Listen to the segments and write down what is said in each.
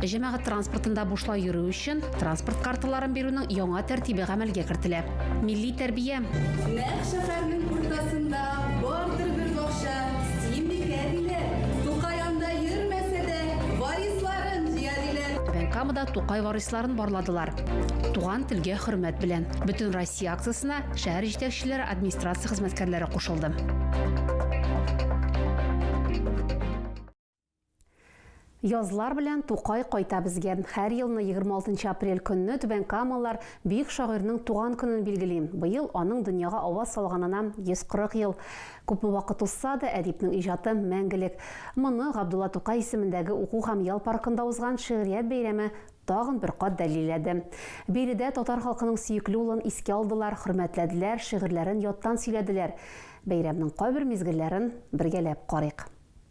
Җәмәгать транспортында бушлай йөрү өчен транспорт карталарын бирүнең яңа тәртибе гамәлгә кертелә. Милли тәрбия. Нәкъ шәһәрнең уртасында бардыр бер бакча, Симбикә диләр. Тукай анда йөрмәсә дә, варисларын җыя диләр. Түбән Камада Тукай варисларын барладылар. Туган телгә хөрмәт белән. Бөтенроссия акциясенә шәһәр җитәкчеләре, администрация хезмәткәрләре кушылды. Язлар белән Тукай кайта безгә. Һәр елны 26 апрель көнне Түбән Камалар бөек шагыйрьнең туган көнен билгели. Быел аның дөньяга аваз салганына 140 ел. Күпме вакыт узса да, әдипнең иҗаты мәңгелек. Моны Габдулла Тукай исемендәге уку һәм ял паркында узган шигърият бәйрәме тагын бер кат дәлилләде. Биредә татар халкының сөекле улын искә алдылар, хөрмәтләделәр, шигырьләрен яттан сөйләделәр. Бәйрәмнең кайбер мизгелләрен бергәләп карыйк.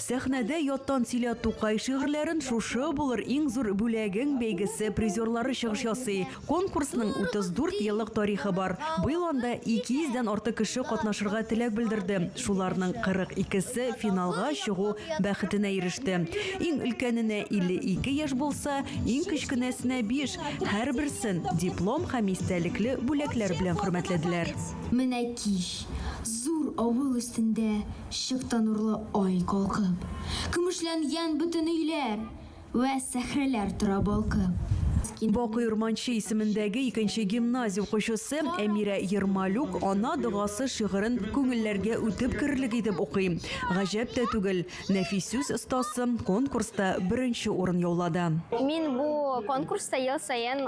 Сәхнәдә яттан сөйлә Тукай шигырьләрен Шушы булыр иң зур бүләгең бәйгесе призерлары чыгыш ясый. Конкурсның 34 еллык тарихы бар. Быел анда 200 дән артык кеше катнашырга теләк белдерде. Шуларның 42 се финалга чыгу бәхетенә иреште. Иң өлкәненә 52 яшь булса, иң кечкенәсенә 5. Һәрберсен диплом һәм истәлекле бүләкләр белән хөрмәтләделәр. Менә кич, зур авыл өстендә Чыкты нурлы ай калкып. Көмешләнгән бөтен өйләр. Вә сәхрәләр тора балкып. Бакый Урманче исемендәге икенче гимназия укучысы Әмирә Ермолюк Ана догасы шигырен күңелләргә үтеп керерлек итеп укый. Гаҗәп тә түгел, нәфис сүз остасы конкурста беренче урын яулады. Мин бу конкурста ел саен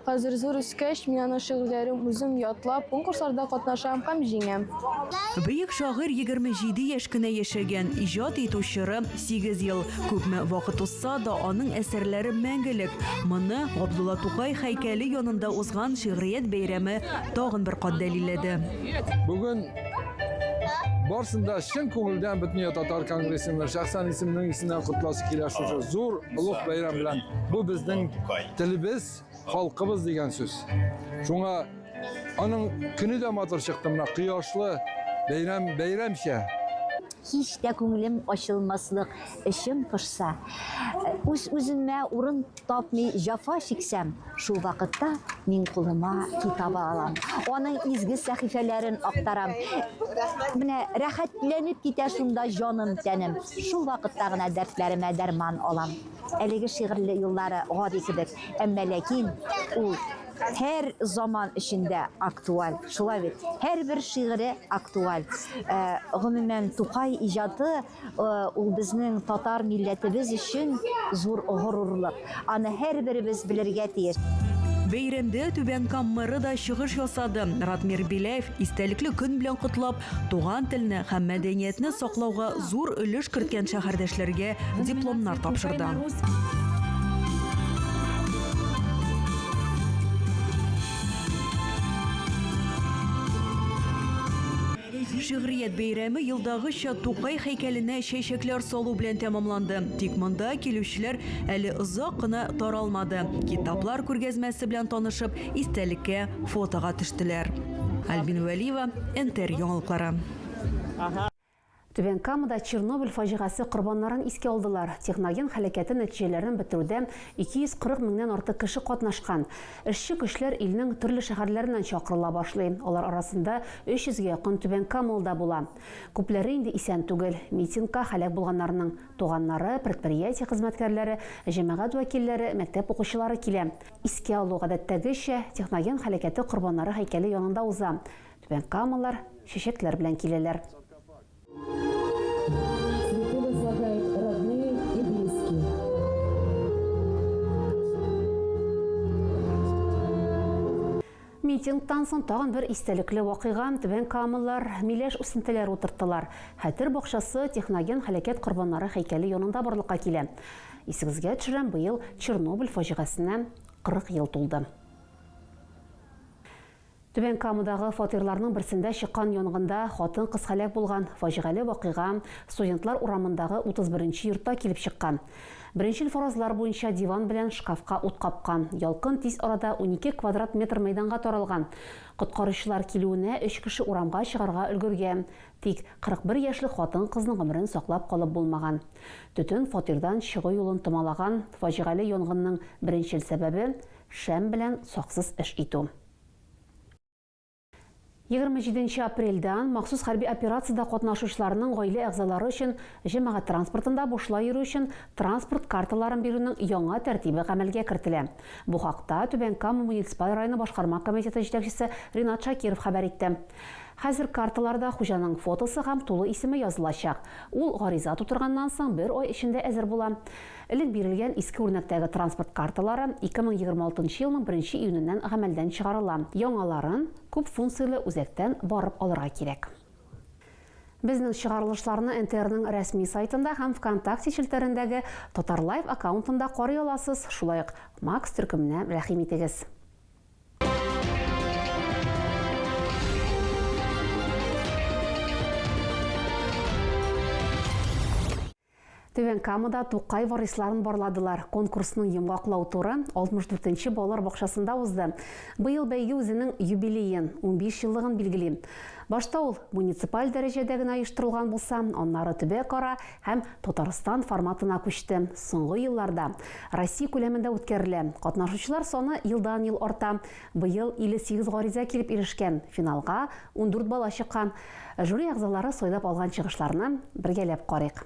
Хәзер зур үскәч, мин аның шигырьләрен үзем ятлап, конкурсларда катнашам һәм җиңәм. Бөек шагыйрь 27 яшь кенә яшәгән, иҗат итү чоры, сигез ел. Күпме вакыт узса да, аның әсәрләре мәңгелек. Моны Габдулла Тукай һәйкәле янында узган шигърият бәйрәме тагын бер кат дәлилләде. Бүген барсын да чын күңелдән Бөтендөнья татар конгрессының шәхсән исеменең исеннән котласы килә шушы зур Олуг бәйрәм белән. Бу безнең телебез, халкыбыз дигән сүз. Шуңа аның көне дә матур чыкты мына кояшлы бәйрәм бәйрәмчә. Һич тә күңелем ачылмаслык, эчем пошса, үз-үземә урын тапмый җафа чиксәм, Шул вакытта мин кулыма китабы алам. Аның изге сәхифәләрен актарам. Менә рәхәтләнеп китә шунда җаным, тәнем. Шул вакытта гына дәртләремә дәрман алам. Әлеге шигырьле юллары гади кебек, әмма ләкин ул һәр заман эчендә актуаль. Шулай бит. Һәрбер шигыре актуаль. Э, гомумән, Тукай иҗаты Ул безнең татар милләтебез өчен зур горурлык. Аны һәрберебез белергә тиеш. Бәйрәмдә Түбән Кам мэры да чыгыш ясады. Ратмир Беляев истәлекле көн белән котлап, туган телне һәм мәдәниятне саклауга зур өлеш керткән шәһәрдәшләргә дипломнар тапшырды. Шигърият бәйрәме елдагыча Тукай һәйкәленә чәчәкләр салу белән тәмамланды. Тик монда килүчеләр әле озак кына таралмады, китаплар күргәзмәсе белән танышып, истәлеккә фотога төштеләр. Альбина Вәлиева, НТР яңалыклары. Түбән Камада Чернобыль фаҗигасе корбаннарын искә алдылар. Техноген һәлакәте нәтиҗәләрен бетерүдә 240 меңнән артык кеше катнашкан. Эшче көчләр илнең төрле шәһәрләреннән чакырыла башлый, алар арасында 300 гә якын Түбән Камалда була. Күпләре инде исән түгел. Митингка һәлак булганнарның туганнары, предприятие хезмәткәрләре, җәмәгать вәкилләре, мәктәп укучылары килә. Искә алу, гадәттәгечә, техноген һәлакәте корбаннары һәйкәле янында уза. Түбәнкамалылар чәчәкләр белән киләләр. Митингтан соң тагын бер истәлекле вакыйга Түбән Камаллар миләш үсентеләре утырттылар. Хәтер бакчасы техноген һәлакәт корбаннары һәйкәле янында барлыкка килә. Исегезгә төшерәм, быел Чернобыль фаҗигасенә 40 ел тулды. Түбән Камадагы фатирларның берсендә чыккан янгында хатын-кыз һәлак булган. Фаҗигале вакыйга Студентлар урамындагы 31 нче йортта килеп чыккан. Беренчел фаразлар буенча диван белән шкафка ут капкан. Ялкын тиз арада унике квадрат метр мәйданга таралган. Коткаручылар килүенә өч кеше урамга чыгарга өлгергән. Тик 41 яшьлек хатын-кызның гомерен саклап калып булмаган. Төтен фатирдан чыгу юлын томалаган. Фаҗигале янгынның беренчел сәбәбе, Шәм белән саксыз эш итү. Егерме җиденче апрельдән махсус хәрби операциядә катнашучыларның гаилә әгъзалары өчен җәмәгать транспортында бушлай йөрү өчен транспорт карталарын бирүнең яңа тәртибе гамәлгә кертелә. Бу хакта Түбән Кама муниципаль районы башкарма комитеты җитәкчесе Ринат Шакиров хәбәр итте. Хәзер карталарда хуҗаның фотосы һәм тулы исеме язылачак. Ул гариза тутырганнан соң бер ай эчендә әзер була. Элек бирелгән иске үрнәктәге транспорт карталары 2026 нчы елның беренче июненнән гамәлдән чыгарыла. Яңаларын, күп функцияле үзәктән барып алырга кирәк. Безнең чыгарылышларны НТРның рәсми сайтында һәм ВКонтакте челтәрендәге Татарлайв аккаунтында карый аласыз, шулай ук Макс төркеменә рәхим итегез. Түбән Камада Тукай варисларын барладылар. Конкурсның йомгаклау туры 64 нче балалар бакчасында узды. Быел бәйге үзенең юбилеен, унбиш еллыгын билгели. Башта ул муниципаль дәрәҗәдә генә оештырылган булса, аннары төбәкара һәм Татарстан форматына күчте. Соңгы елларда Россия күләмендә үткәрелә. Катнашучылар саны елдан-ел арта. Быел 58 гариза килеп ирешкән, финалга ундүрт бала чыккан. Жюри әгъзалары сайлап алган чыгышларны бергәләп карыйк.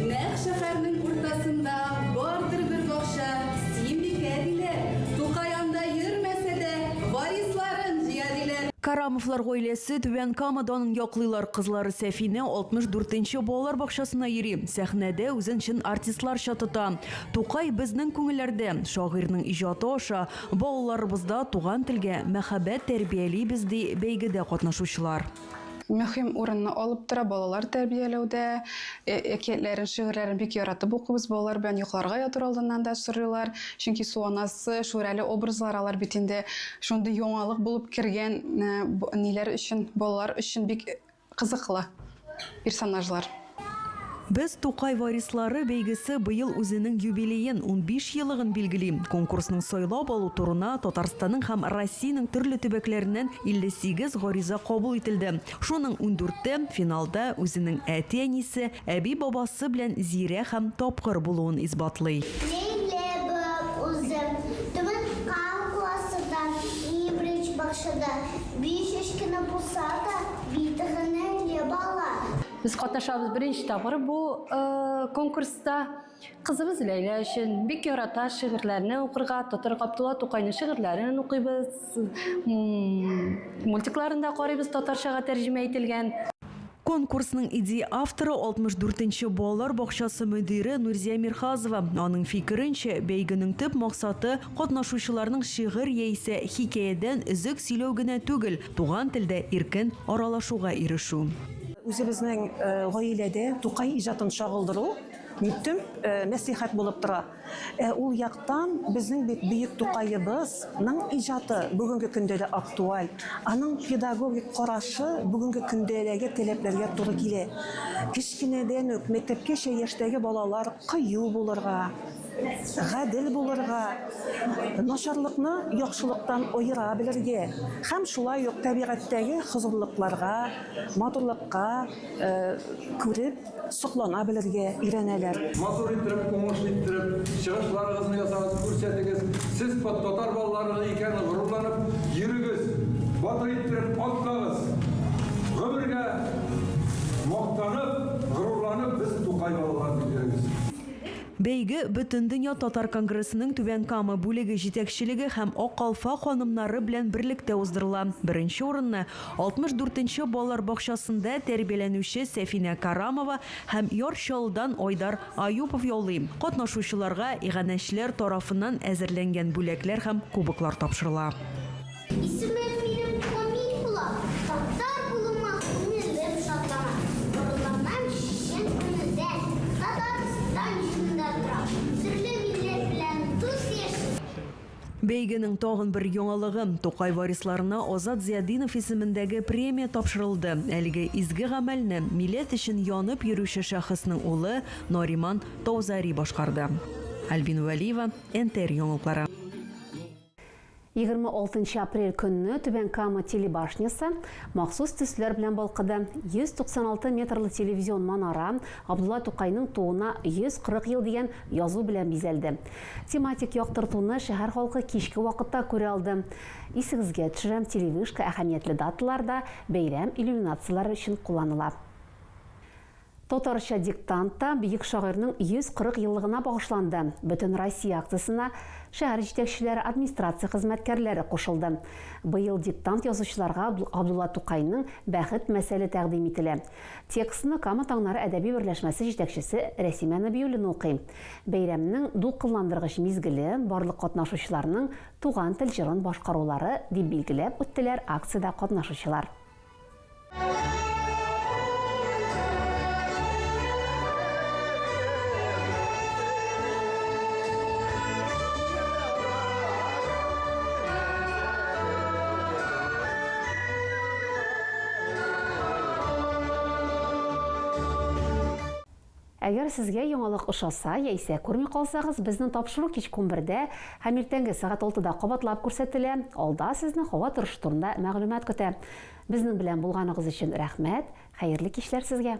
Нәкъ шәхәрнең уртасында бардыр бер бакча, Симбикә диләр. Тукай анда йөрмәсә дә, варисларын җыя диләр. Карамовлар гаиләсе Түбән Кама данын яклыйлар. Кызлары Сәфинә 64 нче балалар бакчасына йөри, сәхнәдә үзен чын артистларча тота. Тукай безнең күңелләрдә, шагыйрьнең иҗаты аша балаларыбызда туган телгә мәхәббәт тәрбиялибез, ди бәйгедә катнашучылар. Мөһим урынны алып тора балалар тәрбияләүдә. Әкиятләрен, шигырьләрен бик яратып укыйбыз. Балалар белән йокларга ятыр алдыннан да сорыйлар. Чөнки Су анасы, Шүрәле образлары алар бит инде шундый яңалык булып кергән ниләр өчен, балалар өчен бик Кызыклы персонажлар. Без Тукай варислары бәйгесе быел үзенең юбилеен, унбиш елыгын билгели. Конкурсның сайлап алу турына Татарстанның һәм Россиянең төрле төбәкләреннән 58 гариза кабул ителде. Шуның ундүрте, финалда үзенең әти-әнисе, әби-бабасы белән зирә һәм тапкыр булуын исбатлый. Ләйләбаб үзе Түбән Кама классында, Ибрич бакчада Биш яшь кенә булса да, бит генә бала. Без катнашабыз беренче тапкыр бу конкурста. Кызыбыз Ләйлә өчен бик ярата шигырьләрне укырга, татар Габдулла Тукайның шигырьләрен укыйбыз, мультикларын да карыйбыз татарчага тәрҗемә ителгән. Конкурсның идея авторы, 64 нче балалар бакчасы мөдире Нурзия Мирхазова. Аның фикеренчә, бәйгенең төп максаты, катнашучыларның шигырь яисә хикәядән өзек сөйләү генә түгел, туган телдә иркен аралашуга ирешү. Үзебезнең гаиләдә Тукай иҗатын чагылдыру, дип төп мәслихәт булып тора. Ә ул яктан, безнең бит бөек Тукаебыз ның иҗаты бүгенге көндә дә актуаль, аның педагогик карашы бүгенге көндәге таләпләргә туры килә. Кечкенәдән үк мәктәпкәчә яшьтәге балалар кыю булырга, гадел булырга, начарлыкны яхшылыктан аера белергә һәм шулай ук табигатьтәге хозурлыкларга, матурлыкка күреп, Соклана белергә өйрәнәләр. Матур иттереп, уңыш иттереп, чыгышларыгызны ясагыз, күрсәтегез. Сез татар балалары икәнен горурланып йөрегез. Батыр иттереп атлагыз. Гомергә мактанып, горурланып, без Тукай балалары дип йөрегез. Бәйге Бөтендөнья татар конгрессының Түбән Кама бүлеге җитәкчелеге һәм Ак калфак ханымнары белән берлектә уздырыла. Беренче урынны 64 нче балалар бакчасында тәрбияләнүче Сәфинә Карамова һәм Яр Чаллыдан Айдар Аюпов яулый. Катнашучыларга иганәчеләр тарафыннан әзерләнгән бүләкләр һәм кубоклар тапшырыла. Исемем минем Камил була. Татар булуыма күңелем шатлана. Барлыгыннан чын күңелдән Татарстан җирендә торам. Төрле милләт белән дус яшим. Бәйгенең тагын бер яңалыгы, Тукай варисларына Азат Зиятдинов исемендәге премия тапшырылды. Әлеге изге гамәлне миләт өчен янып йөрүче шәхеснең улы Нариман Таузари башкарды. Альбина Вәлиева, НТР яңалыклары. Егерме алтынчы апрель көнне Түбән Кама телебашнясы махсус төсләр белән балкыды. 196 метрлы телевизион манара Габдулла Тукайның тууына 140 ел дигән язу белән бизәлде. Тематик яктыртуны шәһәр халкы кичке вакытта күрә алды. Исегезгә төшерәм, телевышка әһәмиятле даталарда бәйрәм иллюминацияләре өчен кулланыла. Татарча диктант та бөек шагыйрьнең 140 еллыгына багышланды. Бөтенроссия акциясенә шәһәр җитәкчеләре, администрация хезмәткәрләре кушылды. Быел диктант язучыларга Габдулла Тукайның Бәхет мәсәле тәкъдим ителә. Текстны Кама таңнары әдәби берләшмәсе җитәкчесе Рәсимә Нәбиуллина укый. Бәйрәмнең дулкынландыргыч мизгеле, барлык катнашучыларның туган тел җырын башкарулары, дип билгеләп үттеләр акциядә катнашучылар. Әгәр сезгә яңалык ошаса, яисә күрми калсагыз, безнең тапшыру кичке унбердә һәм иртәнге сәгать алтыда кабатлап күрсәтелә, алда сезне һава торышы турында мәгълүмат көтә. Безнең белән булганыгыз өчен рәхмәт, хәерле кичләр сезгә!